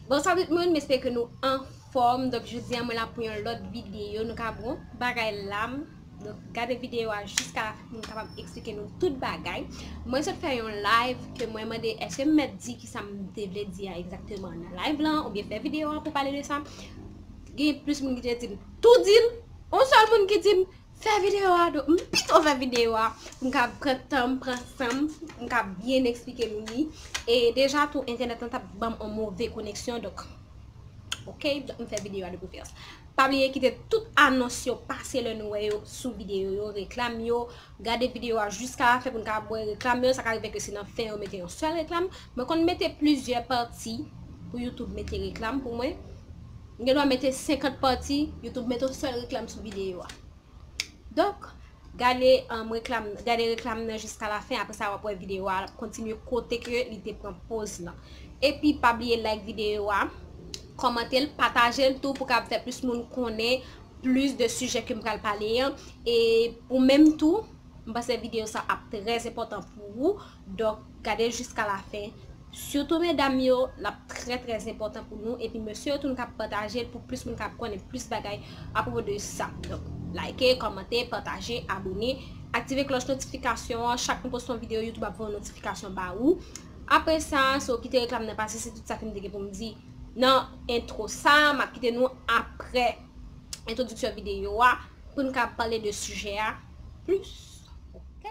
Bonswa tout moun m espere ke nou anfòm donk jodi an mwen la pou yon lòt videyo nou ka bon bagay la m donk gade videyo a jiska la fen pou m kapab eksplike nou tout bagay mwen sot fè yon live ke mwen mande eske m mèt di kisa m te vle di a egzakteman nan live lan oubyen fè videyo a pou pale de sa gen plis moun ki te di m tou di l on sèl moun ki di m Fè video a do, m pito fè video a pou m ka pran tan m, pran san m, pou m ka byen eksplike nou li. E deja tou entènèt lan t ap ban m yon move koneksyon donk ok, donk m fè video a de preferans. Pa bliye kite tout anons yo, pase lè nou wè yo sou video yo, reklam yo, gade video a jiska lafen pou n ka ap wè reklam yo, sa ka rive ke se nan fen yo mete yon sèl reklam. Mwen konn mete plizyè pati pou youtube mete reklam pou mwen. M gen dwa mete 50 pati, youtube mete yon sèl reklam sou videyo a. Donk, gade reklam, gade reklam nan jiska la fen apre sa wap wè videyo a kontinye kote ke li te pran poz lan. Epi pa bliye like videyo a, kòmante l, pataje l tou pou kab fè plis moun konnen plis de sijè ke m pral pale an. E ou menm tou, m panse videyo sa ap trèzenpòtan pou ou. Donk gade jiska la fen. Sitou medam yo lap trè trè enpòtan pou nou epi mesye yo tou nou ka patajel pou plis moun ka konnen plis bagay apropo de sa donk like kòmante pataje abone aktive klòch notifikasyon an chak nou poste yon video youtube ap voye yon notifikasyon ba ou apre sa so kite reklam nan pase se tout sa kem te gen poum di nan entro sa map kite nou apre entwodiksyon video a poun ka pale de sijè a plis ok.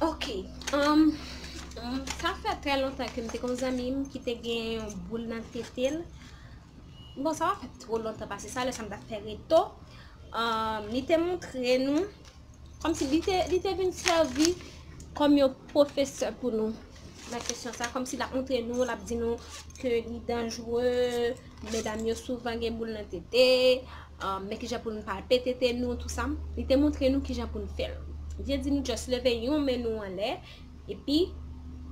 Ok um sa fè trè lontan ke m te konn zanmi m ki te gen yon boul nan tete l bon sa pa fè two lontan pase sa lè sa m tap fè reto um li te montre nou kòm si li te vin sèvi kòm yon pwofesè pou nou nan kesyon sa kòm si l ap montre nou l ap di nou ke li danjre Medam yo souvan gen boul nan tete, men kijan pou nou palpe tete nou, tout sa. Li te montre nou kijan pou nou fè l. Li te di nou just leve yon men nou anlè, epi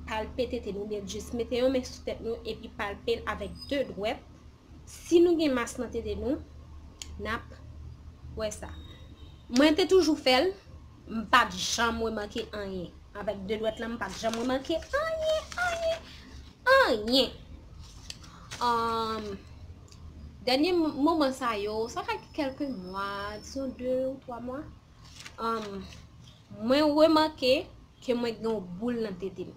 palpe tete nou, oubyen just mete yon men sou tèt nou epi palpe l avèk 2 dwèt. Si nou gen mas nan tete nou, n ap wè sa. Mwen te toujou fè l, m pa t janm remake anyen. Avèk 2 dwèt la, m pa t janm remake anyen, anyen, anyen. Ahm dènye moman sa yo, sa fè kèlke mwa, dizon 2 ou 3 mwa, ahm mwen remake ke mwen gen yon boul nan tete m.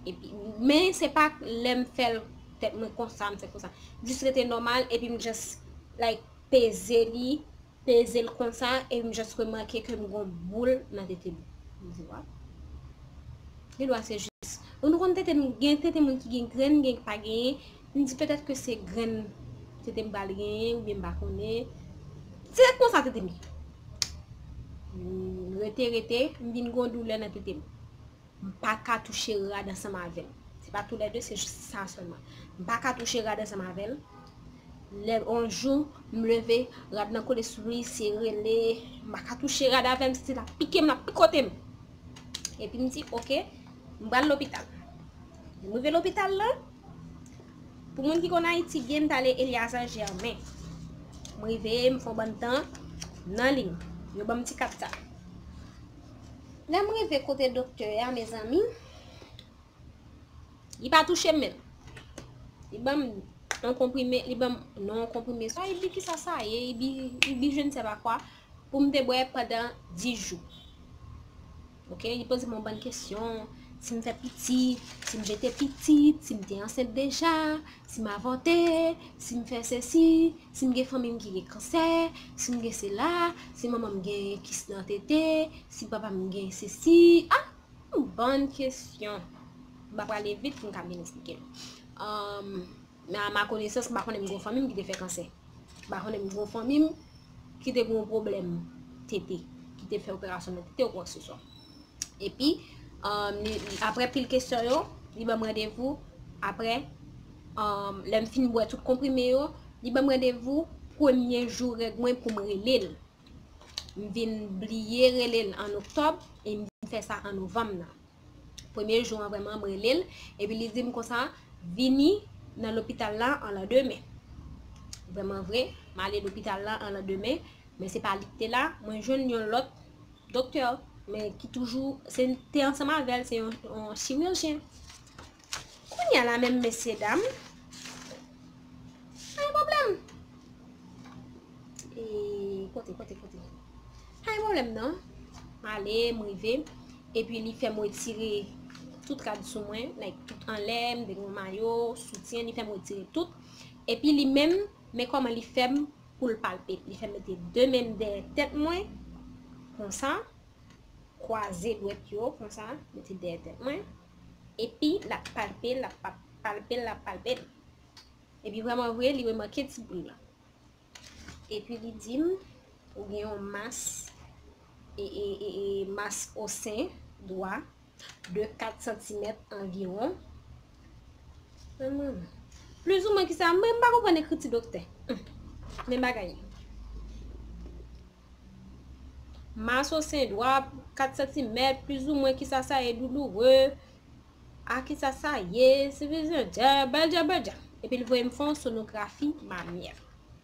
Epi men se pa lè m fè l tèt mwen konsa m fè konsa. Jis rete nòmal epi m just like peze li peze l konsa e m just remake ke m gon boul nan tete m. M di waw. Gen dwa se jis. Nou konn tete m gen tete moun ki gen grenn gen ki pa genyen. M di petèt ke se grenn tete m pral genyen oubyen m pa konnen. Dirèk konsa tete m. M rete rete m vin gon doulè nan tete m. M pa ka touche rad ansanm avè l. Se pa tou lè de, se jis sa sèlman. M pa ka touche rad ansanm avè l. Lè yon jou, m leve, rad lan kole sou li, se rele, m pa ka touche rad avè m, se l ap pike m, l ap pikote m. Epi m di, ok, m pral lopital. Lè m rive lopital la, pou moun ki konn Ayiti byen, m t ale Eliazar Germain. M rive, m fè yon bann tan nan liy. Yo ban m ti kat sa. Lèm rive kote doktè a mezanmi, li pa touchem menm. Li banm yon konprime, li banm non yon konprime. Sa ibi ki sa sa ye, ibi, ibi je ne sais pas quoi pou m te bwè pandan 10 jou. Ok, li poze m yon bann kesyon, si m fè pitit, si m jete pitit, si m te ansent deja, Si m avòte, si m fè sesi, si m gen fanmi m ki gen kansè, si m gen sila, si manman m gen kis nan tete, si papa m gen sesi, a! yon bann kesyon. M va prale vit pou m ka byen esplike l. Men a ma konesans m pa konnen m gen fanmi m ki te fè kansè. M pa konnen m gen fanmi m ki te gen yon pwoblèm tete, ki te fè operasyon nan tete ou kwak se swa. Epi, apre pil kesyon yo, li banm randevou, apre, lèm fin bwè tout konprime yo, li banm randevou, premye jou règ mwen pou m rele l. M vin bliye rele l an oktòb, e m vin fè sa an novanm nan. Premye jou an vreman m rele l, epi li di m konsa, vini nan lopital la an lan demen. Vreman vre, m ale lopital la an lan demen, men se pa li ki te la, mwen jwenn yon lòt. Doktè, men ki toujou, se te ansanm avèl, se yon chirijyen. Kounya la menm mesye dam, pa yon pwoblèm. E, kote, kote, kote. Pa yon pwoblèm nan. M ale, m rive, epi li fèm wetire tout rad sou mwen, like tout anlè, m te gen yon mayo, soutyen, li fèm wetire tout. Epi li menm, men kòman li fèm pou l palpe, li fè m mete de men m dèyè tèt mwen, konsa, kwaze dwèt yo, konsa, mete dèyè tèt mwen, epi l ap palpe, l ap palpe, l ap palpe m, epi vreman vre, li remake ti bri lan, epi li di m, ou gen yon mas, e, e, e, e, mas o sen, dwa. de 4 santimèt anviwon. Plis ou mwen ki sa, mwen mba konpwen ekriti doktè. Men bagay. Mas ou sen dwa, 4 santimèt, plis ou mwen ki sa sa e douloure. A ki sa sa ye, se vizyon dja, bèl dja bèl dja. Epi l voye m fon sonografi mamyè.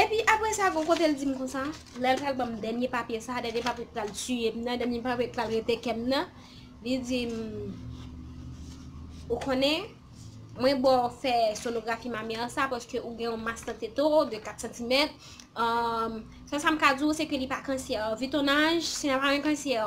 Epi apre sa gon kote l di m konsa, lè l pral ban m dènye papye sa, dènye papye ki pral tiye m nan, dènye papye ki pral rete kè m nan, li di m, Ou konnen, mwen ba w fè sonografi mamè sa paske ou gen yon mas nan tete w de 4 santimèt, sèl sa m ka di w se ke li pa kansyè. Vu ton âge, se pa yon kansyè.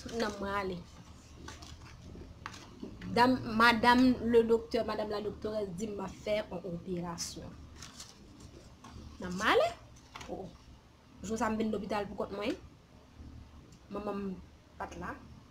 Tout nanm mwen ale. Dam, madam le doktè, madam la doktore di m ap fè an operasyon. Nanm mwen ale. Oh, jou sa m vin lopital pou kont mwen. Manman m pat la.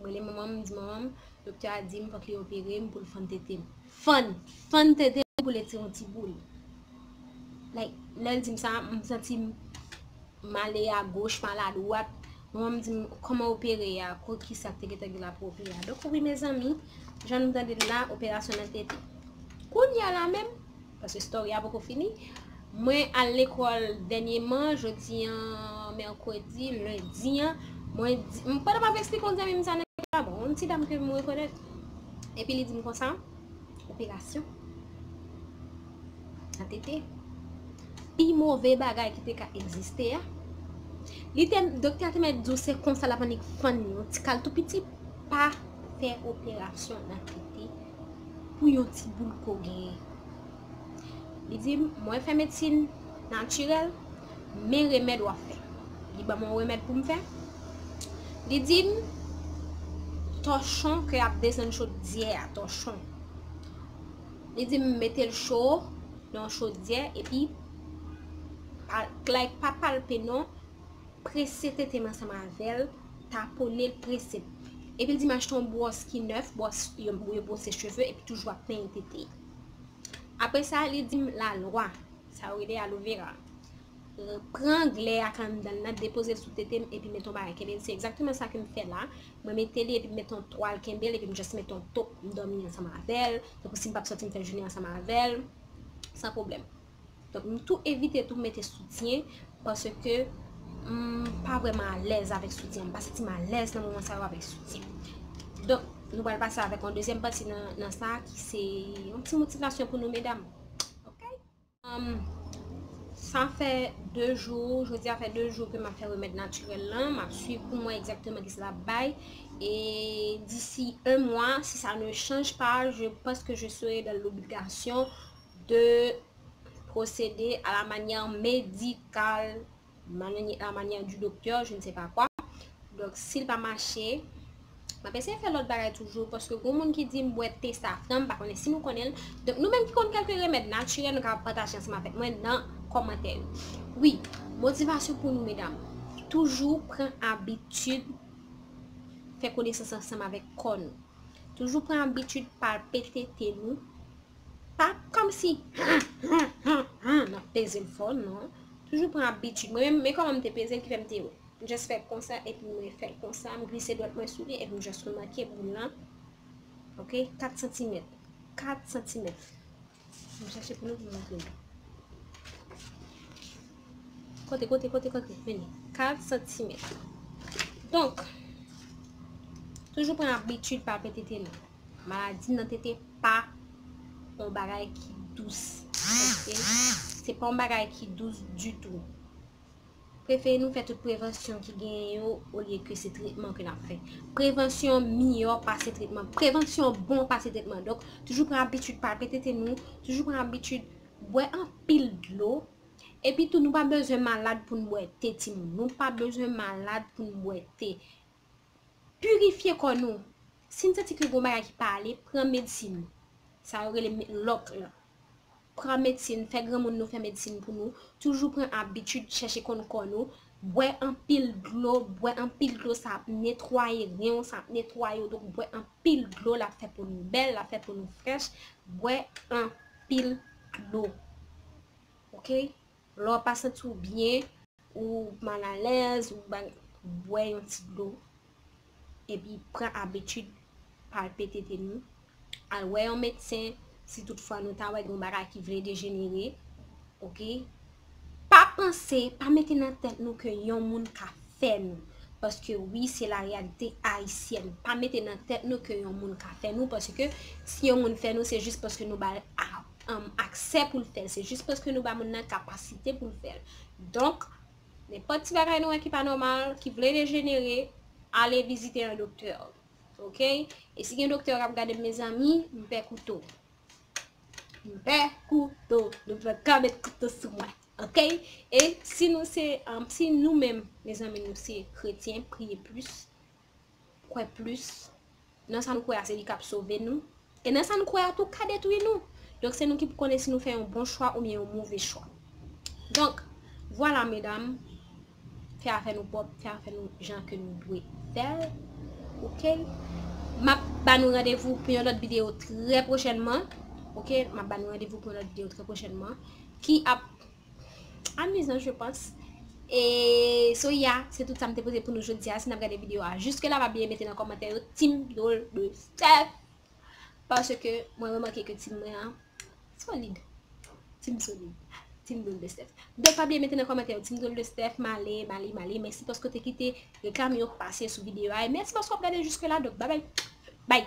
M rele manman m, m di manman m, doktè a di m fòk li opere m pou l fann tete m. Fann! Fann tete m pou l etire yon ti boul. Like, lè l di m sa, m santi m male a goch, male a dwat. Manman m di m, kòman opere a? Ko ki sa k te gentan gen la pou opere a? Donk wi mezanmi, jan nou tande l la, operasyon nan tete. Kounya la menm, Paske story a poko fini. Mwen al lekòl dènyeman, jodi an mèkredi, lendi an, mwen di, pandan map esplike yon zanmi m sa nan lekòl la, bon, yon ti dam ke m rekonèt, epi li di m konsa, operasyon, nan tete, pi move bagay ki te ka egziste a, li te, doktè a te mèt di w se konsa lap annik fann yon ti kal tou piti, pa fè operasyon nan tete. pou yon ti boul ke w genyen. Li di m, mwen fè medsin natirèl, men remèd w ap fè. Li ban mwen yon remèd pou m fè. Li di m, tòchon ke y ap desann chodyè a, tòchon. Li di m mete l cho nan yon chodyè epi like pa palpe non, prese tete m ansanm avè l Tapone l prese. Epi l di m achte yon bwòs ki nèf, bwòs yo bwose cheve epi toujou ap penyen tete. Apre sa li di m lalwa, sa yo rele aloe vera. Pran glè a k anndan l lan, depoze l sou tete m epi mete yon bagay kenbe l. Se egzakteman sa ke m fè la. Mwen mete li epi m mete yon twal kenbe l epi m just mete yon top m dòmi ansanm avè l. Tankou si m pa p sòti m fè jounen ansanm avè l san pwoblèm. Donk m tou evite tou mete soutyen paske m pa vrèman alèz avèk soutyen. M pa santi m alèz nan moman sa yo avèk soutyen. Donk nou pral pase avèk yon dezyèm pati nan sa ki se yon ti motivasyon pou nou medam. Ok! Sa fè 2 jou, jodi a fè 2 jou ke m ap fè remèd natirèl lan. M ap swiv pou m wè egzakteman kisa l ap bay. E disi 1 mwa, si sa ne chanj pa, je panse ke je serai dan lobligasyon 2 procede a la manière médicale mananye a la manière du docteur je ne sais pas quoi donk si l pa mache m ap eseye fè lòt bagay toujou paske goun moun ki di m bwè te safran m pa konnen si nou konnen l donk nou menm ki konn kelke remèd natirèl nou ka pataje ansanm avèk mwen nan kòmantè yo wi motivasyon pou nou medam toujou pran abitid fè konesans ansanm avèk kò nou toujou pran abitid palpe tete nou Pa kòmsi humm humm humm humm nap pezel fò non. Toujou pran abitid. Mwen menm men kòman m te pezel ki fèm te just fè konsa epi mwen fèl konsa m glise dwèt mwen sou li epi m just remake boul lan ok 4 santimèt 4 santimèt m chache pou nou pou m montre nou. Kote kote kote kote vini 4 santimèt donk toujou pran abitid pa pete tele. Maladi nan tete pa yon bagay ki dous. Se pa yon bagay ki dous ditou. Prefere nou fè tout prevansyon ki gen yo ou liye ke se tretman ke nan fè. Prevansyon miyo pase tretman. Prevansyon bon pase tretman. Donk, toujou pran abitid pa pete te nou. Toujou pran abitid bwe an pil dlo. E pi tou nou pa bezwen malad pou nou bwe te ti moun. Nou pa bezwen malad pou nou bwe te. Purifye kò nou. Si n santi ke gon bagay ki pa ale, pran medsin. Sa yo rele lock lan. Pran medsin, fè granmoun nou fè medsin pou nou. Toujou pran abitid chèche konn kò nou. Bwè anpil dlo, bwè anpil dlo sa ap netwaye ren w, sa ap netwaye w. Donk bwè anpil dlo l ap fè po nou bèl, l ap fè po nou frèch. Bwè anpil dlo. Ok. Lè w pa santi w byen. Ou mal alèz ou bagay, bwè yon ti dlo epi pran abitid palpe tete nou, al wè yon medsen si tout fwa nou ta wè gen yon bagay ki vle dejenere ok, pa panse, pa mete nan tèt nou ke yon moun ka fè nou paske wi se la reyalite ayisyèn, pa mete nan tèt nou ke yon moun ka fè nou paske si yon moun fè nou se jis paske nou bal a. aksè pou l fè l, se jis paske nou ba moun nan kapasite pou l fè l. Donk, nenpòt ti bagay nou wè ki pa nòmal, ki vle dejenere, ale vizite yon doktè. Ok? E si gen doktè k ap gade m mezanmi, m pè kouto. M pè kouto. Nou pa ka met kouto sou mwen. Ok? E si nou se, si nou menm, mezanmi nou se kretyen, priye plis, kwè plis nan sa nou kwè a se li kap sove nou e nan sa nou kwè a tou ka detwi nou donk se nou ki pou konnen si nou fè yon bon chwa oubyen yon move chwa donk vwala medam fè afè nou pwòp fè afè nou jan ke nou dwe fèl ok map ba nou radevou pou yon lòt videyo trè pwochènman ok map ba nou radevou pou yon lòt videyo trè pwochènman ki ap Amizan je pans. E so ya se tout sa m te poze pou nou jodi a si n ap gade videyo a jiske la pa bliye mete nan kòmantè yo team dol de fèf paske mwen remake ke team mwen an solid team solid team dol de stèf donk pa bliye mete nan kòmantè yo team dol de stèf male male male mèsi paske w te kite reklam yo pase sou videyo a e mèsi paske w ap gade jiske la donk babay bay